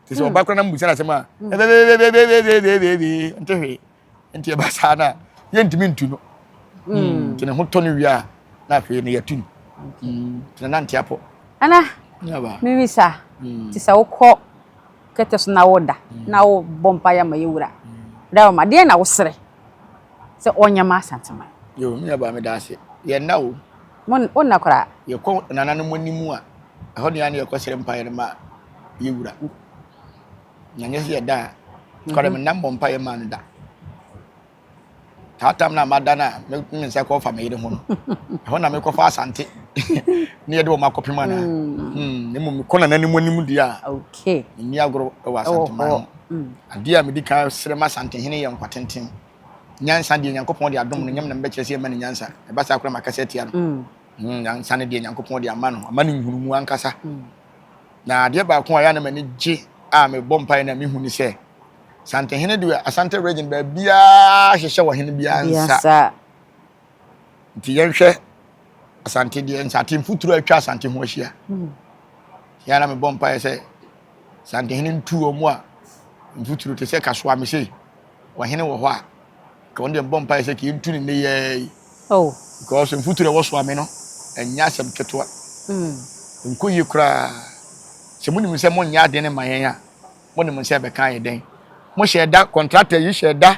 te sɛ ɔba kora na mbusa no asɛm a ɛbɛbɛbɛbɛbɛbɛbɛbɛbɛ nte hwee nti ɛba saa no a yɛntumi ntu no hmm. nti ne ho tɔ no wie a na afei no yɛtu no hmm. nti na nante apɔ ana mewisa hmm. te sɛ wokɔ kɛtɛ so na woda na wobɔ mpa yɛ ma yɛwura da ma deɛ na woserɛ sɛ ɔnyɛ ma asantema yo me yɛba meda ase yɛnna o wonna koraa yɛkɔ nananom anim a ɛhɔ ne a ne yɛkɔserɛ mpaeɛ no ma yɛwura na nyɛ sɛ yɛda a kɔdɛ mhm. menna mmɔ mpaeɛ maa no da saa tam no a mada no a me nsa kɔfa me yere ho no ɛhɔ na mekɔfa asante ne yɛde wɔ m akɔpem anaa mm. hmm, na mmom mekɔ nana no mu anim deɛ a ɛnni agorɔ wɔ asantema ho mm. adeɛ a medi kan serɛ ma asantehene yɛ nkwatenten nyansa deɛ nyankopɔn de adom no nyam na mebɛkyerɛ sɛ ɛma no nyansa ɛba saa kora makasa atia no mm. nyansa no deɛ nyankopɔn de ama no ama no nhunumu ankasa Na adeɛ baako a ɛyɛ a na m'ani gye a mebɔ mpaeɛ na mehu ne sɛ, Santehene deɛ Asante Region baabiara hyehyɛ wɔ hene biara nsa. Nti yɛnhwɛ Asante deɛ nsate mfuturo a atwa Asante ho ahyia. Yɛ na mebɔ mpaeɛ sɛ Santehene ntu wɔn a mfuturo te sɛ kasoa me sei. ɔhene wɔ hɔ a, nka ɔno deɛ mbɔ mpaeɛ sɛ kii ntu ne nneyɛɛ yi. Oh. Because mfuturo a ɛwɔ so ma me no, ɛnyɛ asɛm ketewa. Mm. Nkɔ yie koraa. Sɛ monim sɛ monyɛ adeɛ no ma yɛn a, monim nsɛ ɛbɛka ayɛ dɛn. Mohyɛ da, contractor yi hyɛ da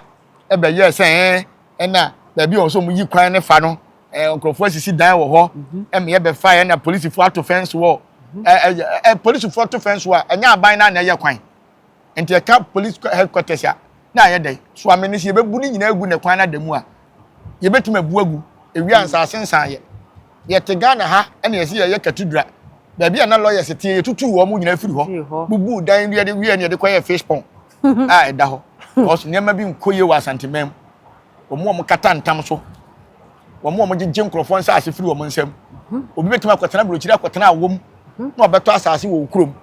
ɛbɛyɛɛ sɛ ɛɛ ɛna baabi a ɔsɛ ɔmo yi kwan no fa no, ɛɛ nkurɔfoɔ asisi dan wɔ hɔ, mhm. ɛmɛ ɛbɛfa yɛn na polisifoɔ ato fɛnsi wɔ, mhm. ɛɛ ɛɛ polisifoɔ to fɛnsi wɔ a, ɛnyɛ aban na na ɛyɛ kwan. Nti ɛka police headquarters a, na ayɛ dɛn? So ame no sɛ yɛbɛbu ne nyinaa agu ne kwan no ada mu a, yɛbɛtumi abu agu. Ɛwie a, nsaase nsaeɛ. Yɛte Ghana ha na yɛse yɛyɛ Katudra. Baabi a na lawyers teɛ, yɛtutuu wɔn nyinaa firi hɔ, bubuu dan no yɛde wieɛ no yɛde kɔyɛɛ fish pond a ɛda hɔ. Because nneɛma bi nkɔ yie wɔ Asanteman mu. Wɔn a wɔkata ntam so, wɔn a wɔgyegye nkurɔfoɔ nsaase firi wɔn nsam. Obi bɛtumi akɔtena aburokyire akɔtena awom na ɔbɛtɔ asaase wɔ wo kurom.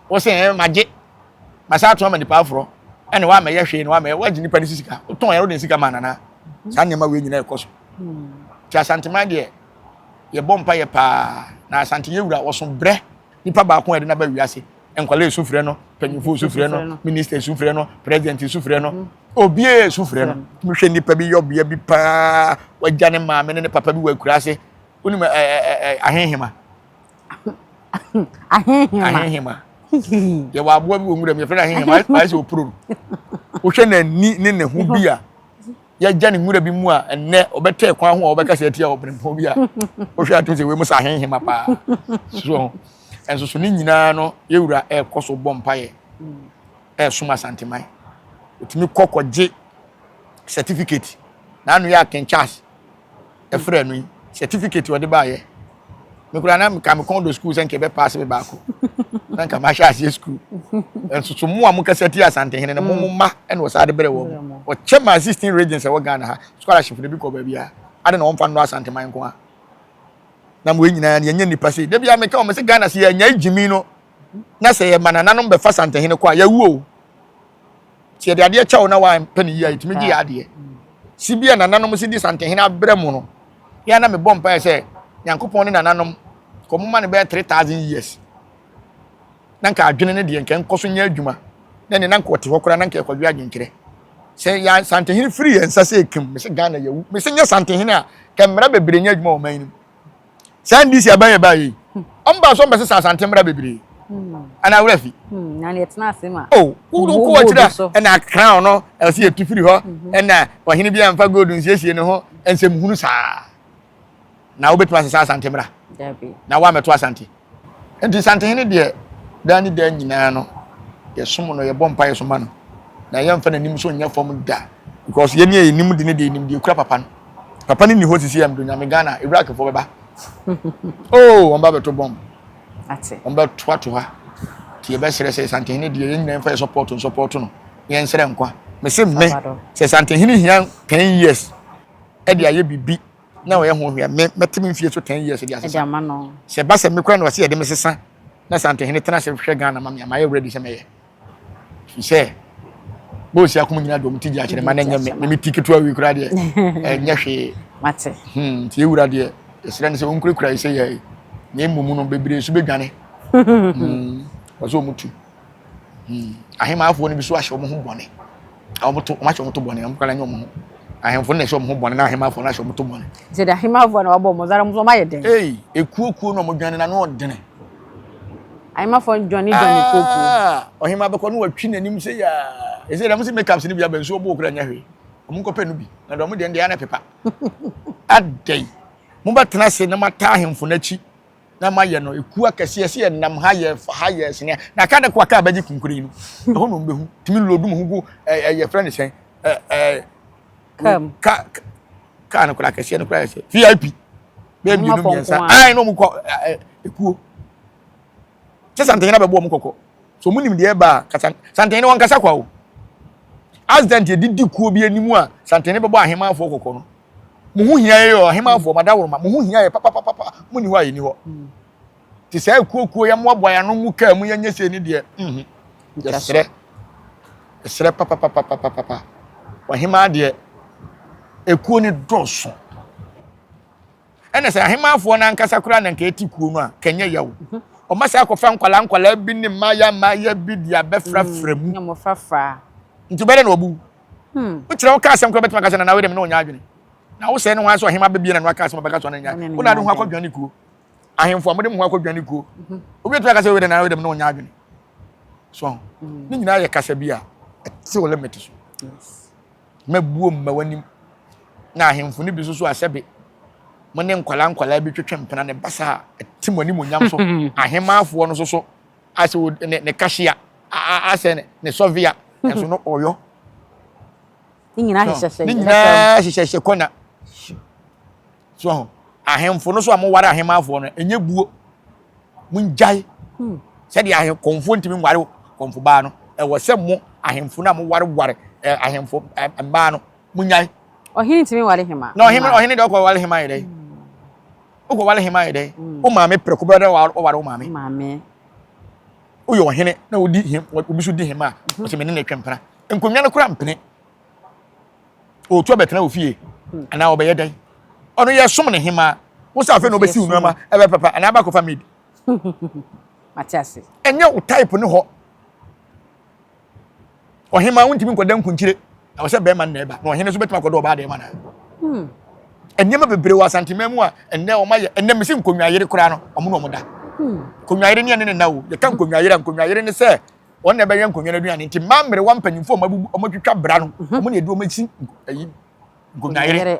Wo se eh magye masan ato ama nipa aforɔ ɛne woamɛyɛ hwee na woamɛyɛ woagye nipa ne si sika wotɔn yɛn wode ne sika ma nana saa nneɛma wei nyinaa ɛkɔ so nti asanteman deɛ yɛbɔ mpa yɛ paa na asante yɛ wura wɔso brɛ nipa baako a ɛde naba wiase nkwalaa esu frɛ no panyinfo esu frɛ no minista esu frɛ no president esu frɛ no mm-hmm. obiara esu frɛ no tumi hwɛ nipa bi yɛ ɔbea bi paa wagya ne maame ne ne papa bi wɔ akura ase wonim ɛɛ ɛɛ ahehema ahehema ahehema yɛwɔ aboa bi wɔ nwura mu yɛfrɛ no ahehema ayɛ sɛ ɔpuro no wohwɛ n'ani ne ne ho bi a yɛgya ne nwura bi mu a ɛnnɛ ɔbɛtɛ kwan ho a wɔbɛka sɛ atia ɔbrempɔn bi a wohwɛ ato sɛ wei mu sɛ ahehema paa so ɛnso so ne nyinaa no yɛwura ɛrekɔ so bɔ mpaeɛ ɛresom asanteman ɔtumi kɔ kɔgye certificate n'ano yɛ atɛnkyɛ ase ɛfrɛ no yi certificate ɔde baayɛ me koraa na nka me kɔn do school sɛ nka ɛbɛ pass me baako na nka mahyɛ aseɛ school nso so mo a mo kasa ti asantehene no mo mo ma ɛna ɔsaa de brɛ wɔn ɔkyɛ maa sixteen regions ɛwɔ Ghana ha scholarship de bi kɔ baabi a ade na wɔn fa no asanteman nko a na mo nyinaa yɛn nyɛ nipa sei debi a meka wɔn sɛ Ghana sɛ yɛn nyɛ gyimi no na sɛ yɛ ma nananom bɛfa santehene kɔ a yɛwuo. sɛ yɛde adeɛ kyɛ wo na wampɛ ne yie a yɛtumi gye yɛ adeɛ si bi a nananom si di santehene abrɛ mu no yɛa na mebɔ mpaeɛ sɛ nyankopɔn ne nananom kɔ moma no bɛyɛ 3000 years na nka adwene no deɛ nka nkɔ so nyɛ adwuma na ne na nka ɔte hɔ koraa na nka ɛkɔdwe adwenkyerɛ sɛ yɛ santehene firi yɛn nsa sɛ ɛkim me sɛ ghana yɛwu me sɛ nyɛ santehene a kɛ mmara bebree nyɛ adwuma wɔ man no mu saa ndc aban yɛ baayɛ yi ɔmo ba so ɔmo bɛsesa asante mmra bebree ɛna awura fi na ne ɛtena ase ma o wuru kɔ akyira ɛna crown no ɛsɛ yɛ tufiri hɔ ɛna ɔhene bi anfa gold nsiesie ne ho nsɛm hunu saa na wobɛtumi asesa asante mmra na woamɛto asante Enti Asantehene deɛ, daa ne daa nyinaa no, yɛsom no, yɛbɔ mpaeɛ so ma no, na yɛmfa n'anim so nyɛ fam da. Because yɛn a yɛnim de no deɛ yɛnim deɛ ɛkura papa no. Papa no nni hɔ sisi a mdo nyame Ghana Iraqfoɔ bɛba. Oh, wɔn ba bɛto bɔm. Wɔn bɛtoato ha. Nti yɛbɛsrɛ sɛ Asantehene deɛ yɛn nyinaa mfa yɛ support no support no. Yɛn nsrɛ nkwa. Mese mme sɛ Asantehene hia 10 years ɛde ayɛ biribi. na ɔyɛ ho hwɛ me mɛte me mfie so ten years de asesa sɛ ɛba sɛ me kora na ɔse yɛde me sesa na santehene tena sɛ hwɛ ghana ma me a mayɛ ready sɛ mɛyɛ fi sɛ bɔɔsi akom nyina dɔm ti gye akyerɛ ma na ɛnyɛ me me me ti ketewa wei kora deɛ ɛnyɛ hwee mate hmm ti ewura deɛ ɛsrɛ ne sɛ ɔnkurakura yi sɛ yɛ na emu mu no bebree so bedwane hmm ɔsɛ ɔmo tu hmm ahemaafoɔ no bi so ahyɛ ɔmo ho bɔne a wɔto wɔn ahyɛ wɔn to bɔne wɔn kora nyɛ wɔn ho ahemfo na ɛhyɛ wɔn ho bɔne na ahemafo na ɛhyɛ wɔn to bɔne. sɛ de ahemafo na wɔabɔ wɔn zara wɔn nso wɔayɛ dɛn. ee ekuokuo na wɔn dwane na ano ɔdene. ahemafo dwane dwane kuokuo. Ah, ɔhema bɛkɔ no watwi n'anim sɛ yaa ɛsɛ dɛm sɛ makeups no bi aba nsuo bo okura nyɛ hwee wɔn nkɔpɛ no bi na dɔm deɛ ndeɛ ana pepa adɛn mobɛtena ase na mata ahemfo n'akyi na mayɛ no ekuo akɛseɛ sɛ yɛnam ha yɛ fa ha yɛ sene na aka de ko aka abɛgye kunkure yi no ɛhɔ na ɔmbɛhu tumi lodum ho gu ɛyɛ frɛ ne sɛn ka kaa no kora akɛseɛ no kora yɛ sɛ vip bɛɛ mmienu mmiɛnsa ae na ɔmu kɔ ekuo sɛ santene na bɛbɔ ɔmu kɔkɔ so ɔmu nim deɛ ɛba a santene ne wankasa kwa o accident yɛde di kuo bi anim a santene bɛbɔ ahemanfoɔ kɔkɔ no mo ho hia yɛ ɔhemafo ɔma daworoma mo ho hia yɛ papapapa mo ni hɔ a yɛni hɔ hmm. te saa akuokuo yɛ mmoaboa yɛ ano mu kaa mu yɛnyɛ sei ne deɛ mhm. yɛserɛ yɛserɛ papapapapapa ɔhemaa deɛ ekuo ne dɔɔso ɛna sɛ ahemaafoɔ no ankasa koraa na nka ɛti kuo no a kɛnyɛ yaw mhm. ɔma saa akɔfa nkwalaa nkwalaa bi ne mmaayɛ mmaayɛ bi de abɛfrafra mu nti bɛdɛ na ɔbu Hmm. Wokyerɛ wo ka asɛm kora bɛtumi aka sɛ nana wei dɛm na ɔnya adwene. Na wo sɛ ne ho ara sɛ ɔhema bɛbie na no aka asɛm ɔbɛka so na nya. Wo na de ho akɔdwane kuo. Ahemfo a mode mo ho akɔdwane kuo. Mhm. Obi bɛtumi aka sɛ wei dɛm nana wei dɛm na ɔnya adwene. So ho. Mhm. Ne nyinaa yɛ kasa bi a ɛte wo limit so. Mɛbuo mma w'anim. Na ahemfo no bi so so asɛbe. Mo ne nkwadaa nkwadaa bi twetwe mpena ne basa a ɛte mo anim onyam so. Ahemaafoɔ no so so. Asɛ wo ne ne kahyia, asɛ ne sɔvia, nanso no ɔyɔ. Ne nyinaa hyehyɛhyɛ. Ne nyinaa hyehyɛhyɛ kɔnya. So ho. Ahemfo no so a moware ahemmanfoɔ no, ɛnyɛ buo. Mongyae. Hmm. Sɛdeɛ ahekɔmfoɔ ntumi nware kɔmfo baa no, ɛwɔ sɛ mo ahemfo no a mowareware ahemfo mmaa no, monyae. Ɔhene ntumi nware hema. Na ɔhene ɔhene deɛ ɔkɔ ware hema yɛ dɛ. Hmm. Wokɔ wale hema yɛ dɛn? Mm. Wo maame prɛko bɛrɛ dɛ wɔware wo maame. Maame. Woyɛ ɔhene na wodi hem obi so di hema a mhm. ɔsɛ mene na atwa mpena. Nkonnwa no kora mpene. Ɔtu abɛtena wɔ fie hmm. anaa ɔbɛyɛ dɛn? Ɔno yɛ som ne hema. Wo sɛ afei na ɔbɛsi wo nneɛma ɛbɛ papa anaa aba akɔfa maid. Mate ase. Ɛnyɛ wo type ne hɔ. ɔhemaa wontumi nkɔda nkunkyire ɛwɔ sɛ bɛrima nna ɛba na ɔhene nso bɛtumi akɔda ɔbaa dɛma na hmm. nneɛma bebree wɔ asanteman mu a ɛnnɛ wɔn ayɛ ɛnnɛ mesi nkonnwayere koraa no wɔn na wɔn da hmm. nkonnwayere ne ɛne ne nna o yɛka nkonnwayere a nkonnwayere ne sɛ wɔn na ɛbɛyɛ nkonnwa no aduane nti mmaa mmerewa mpanyinfoɔ wɔn abubu wɔn atwitwa bra no mhm. wɔn na ɛde wɔn asi nkonnwayere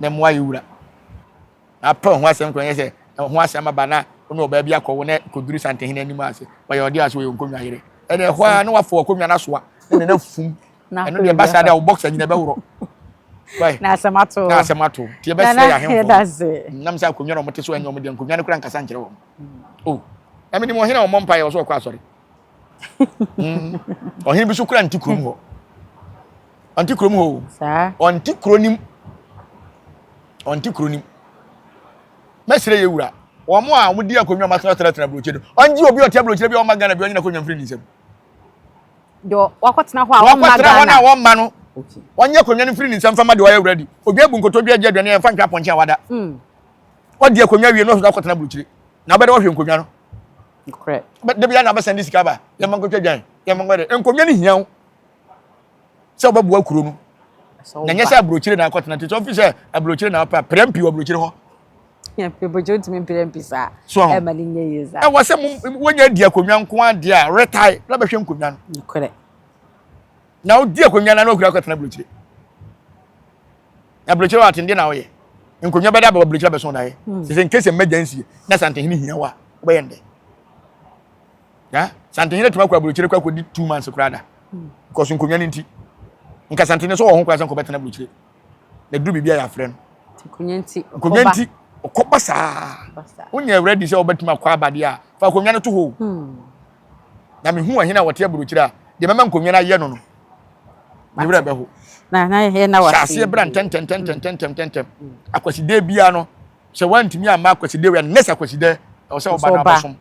na mmoa yɛ wura. Na apɛ ɔho asɛm kora nyɛ sɛ ɔho asɛm aba na wo ne ɔbaa bi akɔwo na kɔduru santehene anim ase. Ɔyɛ ɔde ase, ɔyɛ nkonnwa yere. Ɛne ɛhɔ ara na wafo akonnwa no asoa na ne na fum. Ɛno deɛ ɛba saa de a wo boxer nyina ɛbɛworɔ. Na asɛm ato. Na asɛm ato. Nti ɛbɛsrɛ yɛ ahemfo. Nam sɛ akonnwa na wɔte so ɛnyɛ wɔn deɛ nkonnwa no kora nkasa nkyerɛ wɔn. O, na menim ɔhene a ɔmmɔ mpaeɛ ɔsɛ ɔkɔ asɔre. Mm. Ɔhene bi so kura nti kurom hɔ. Ɔnti kurom hɔ o. Saa. Ɔnti kuro nim. Ɔnti kuro nim. Mɛsrɛ yɛ wura. Wɔn a wɔn di akonnwa wɔn atena tena tena aburokyire no. Ɔngye obi ɔte aburokyire bi a ɔma Ghana bi ɔnyina akonnwa mfiri ne nsam. Deɛ wakɔtena hɔ a ɔmma Ghana. Wakɔtena hɔ no a wɔmma no. Wɔnyɛ akonnwa no mfiri ne nsam fama deɛ ɔyɛ wura di. Obi abu nkotodwe agye aduane a yɛmfa ntwa apɔnkye a wada. Wɔdi mm. akonnwa wie no ɔsɔsɔ akɔtena aburokyire. Na ɔbɛdɛ wɔhwɛ nkonnwa no. Nokorɛ. But da biara na abɛsɛn de sika ba yɛn mma nkɔtwa dwan yɛn mma nkɔyɛ nkonnwa no hia wo sɛ wobɛboa kuro no na nyɛ sɛ aburokyire na akɔtena te sɛ ɔfi sɛ aburokyire na apɛ apira mpi wɔ aburokyire hɔ pebogye wotumi mpira mpi saa ɛma ne nyɛ yie saa ɛwɔ sɛ wonya adi akonnwa nko adeɛ a retae na bɛhwɛ nkonnwa no nokorɛ na wodi akonnwa no na wokura akɔtena aburokyire Aburokyire wɔ atende na ɔyɛ. Nkonnwa bɛda bɛwɔ aburokyire abɛso na yɛ. Sɛ sɛ nkesi mmɛgya nsie na santehene hia wa wobɛyɛ ndɛ. Ya santehene tuma kɔ aburokyire kɔ akɔdi two months koraa da. Because nkonnwa no nti. Nka santehene so wɔ ho koraa sɛ nkɔbɛtena aburokyire. Na duru biribi a yɛafrɛ no. Nkonnwa nti. Nkonnwa nti ɔkɔba saa. Wonyɛ ready sɛ wobɛtumi akɔ abadeɛ a fa akonnwa no to hɔ. Na mehu ɔhene a wɔte aburokyire a deɛ mɛma nkonnwa no ayɛ no no ne werɛ bɛho hyɛ aseɛ bra ntɛntɛntɛntɛntɛntɛntɛm akwasidɛ biara no sɛ woantumi amma akwasidɛ wia next akwasidɛ ɛwɔ sɛ woba no abɛsom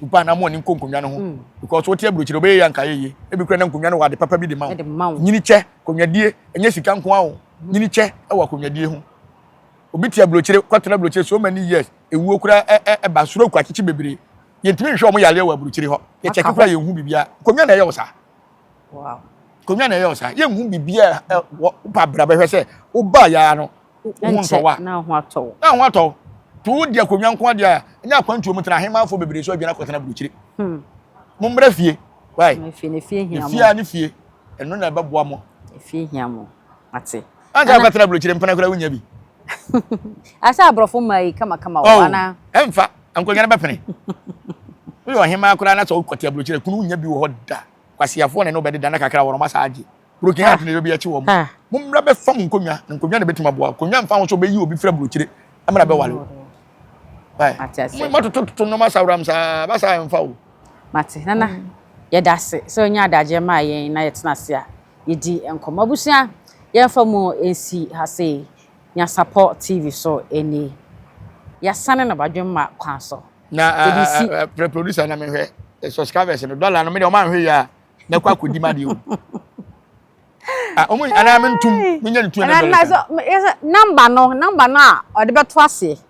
woba hmm. na mo ani nkɔ nkonnwa no ho because wote aburokyire wobɛyɛ yɛ anka yɛyɛ ebi kura na nkonnwa no wɔ ade papa bi de ma wo nyini kyɛ konwadie ɛnyɛ sika nko awo nyini kyɛ ɛwɔ konwadie ho obi te aburokyire kɔtena aburokyire so many years ewuo kura ɛba soro kɔ akyekye bebree Yɛntumi nhwɛ wɔn yareɛ wɔ aburukyiri hɔ. Yɛkyɛke koraa yɛnhu biribiara. Nkonnwa na ɛyɛ wo saa. Nkonnwa na ɛyɛ wo saa. Yɛnhu biribiara wɔ ba bra bɛhwɛ sɛ wobaa yɛa no wo ho ntɔ wo a. Na ho atɔ wo. Na ho atɔ wo. To wo di akonnwa nko adeɛ a ɛnyɛ akwantuo mu tena ahemmanfoɔ bebree so adwane akɔtena aburukyiri. Hmm. Mo mmra fie. Wai. Efie a ne fie. Ɛno na ɛbɛboa mo. Efie hia mo. Ate. Anka akɔtena aburukyiri mpena koraa wonya bi. Asa aborɔfo mmaa yi kamakama wɔ oh, anaa? Ɛmfa. Nkonnwa no bɛpene. Woyɛ ɔhemaa koraa na sɛ wokɔte aburokyerɛ kunu wonya bi wɔ hɔ da. Kwasiafoɔ na ɛne wobɛdeda na kakra wɔrɔma saa agye. Broken heart na ɛyɛ obi akyi wɔ mo. Mommra bɛfa mo nkonnwa na nkonnwa na ɛbɛtumi aboa wo. Konnwa mfa ho sɛ wobɛyi obi firi aburokyire mmra bɛware wo. Wai? Moatotototo nnoɔma saworam saa, ba saa ɛmfa o. Mate. Nana, yɛda ase sɛ wonya adagyeɛ maa yɛn na yɛtena ase a yɛdi nkɔmmɔ. Abusua, yɛmfa mu nsi ha sei. Nyansapɔ TV so ɛni. Yasane no badwemma kwan so. Na frɛ producer na menhwɛ subscribers no dollar no me de ɔma nhwe ya na kɔ akɔdi ma de o. Ah ɔmo ana mentum menya ne tu na dollar. Number no number no a ɔde bɛto ase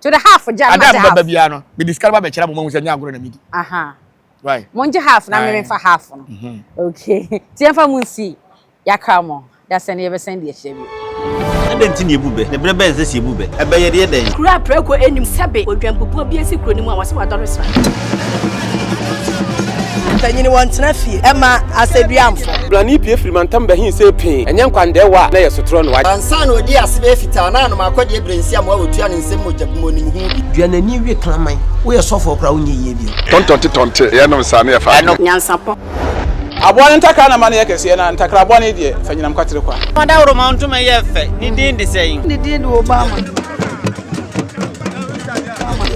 To the half gya na gya half. Ada baba biara no, mede sika no ba bɛkyerɛ mo ma hu sɛ nyɛ agorɔ na medi. Aha. Right. Mo ngye half na meme fa half no. Mhm. Okay. Ti yɛmfa mo nsi yakra mo. Yasɛ ne yɛbɛsɛn deɛ hyɛ bi. Adɛn nti na yɛbu bɛ? Ne berɛ bɛn sɛ sɛ yɛbu bɛ? Ɛbɛyɛ deɛ dɛn? Kuro a prɛko nnim sɛbe odwanpopɔ bi asi kuro no mu a wɔse wadɔre sra. Mpanyin wɔn tena fie ɛma asɛduamfo. Brani pie firi mantam bɛhin sɛ pee ɛnyɛ nkwandɛɛ wɔ a na ɛyɛ sotorɔ noa. Ansa na ɔdii ase bɛyɛ fitaa na anom akɔdeɛ berɛ nsi amoa ɔtua ne nsam mogya bi mu ɔnim ho bi. Dua n'ani we kraman. Woyɛ sɔfoɔ koraa wonyɛ yie bio. Tɔntɔnte tɔnte yɛ nom saa ne yɛ fa adwene. Nyansapɔ. Aboa no ntakra na ma no yɛ kɛseɛ na ntakraboa no deɛ fa nyinam kwatere kwa. Fa dawuroma ntoma yɛ fɛ ne din de sɛn. Ne din de Obama.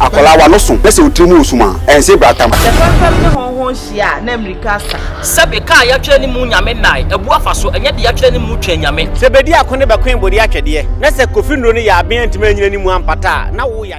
Akwadaa w'ano so na sɛ otiri mu wɔ sum a, ɛnsee bratamu. Sɛ fɛmfɛm ne hɔnhɔn hyia a, na mbirika sa. Sɛbe ka a yɛatwerɛ ne mu Nyame nnae abu afa so, ɛnyɛ deɛ yɛatwerɛ ne mu Twɛn Nyame. Sɛ bɛdi ako ne bɛkoe bɔdeɛ atwɛdeɛ, na sɛ Kofi nnuro no yɛ aben antumi anyina ne mu ampata a, na wo yadeɛ.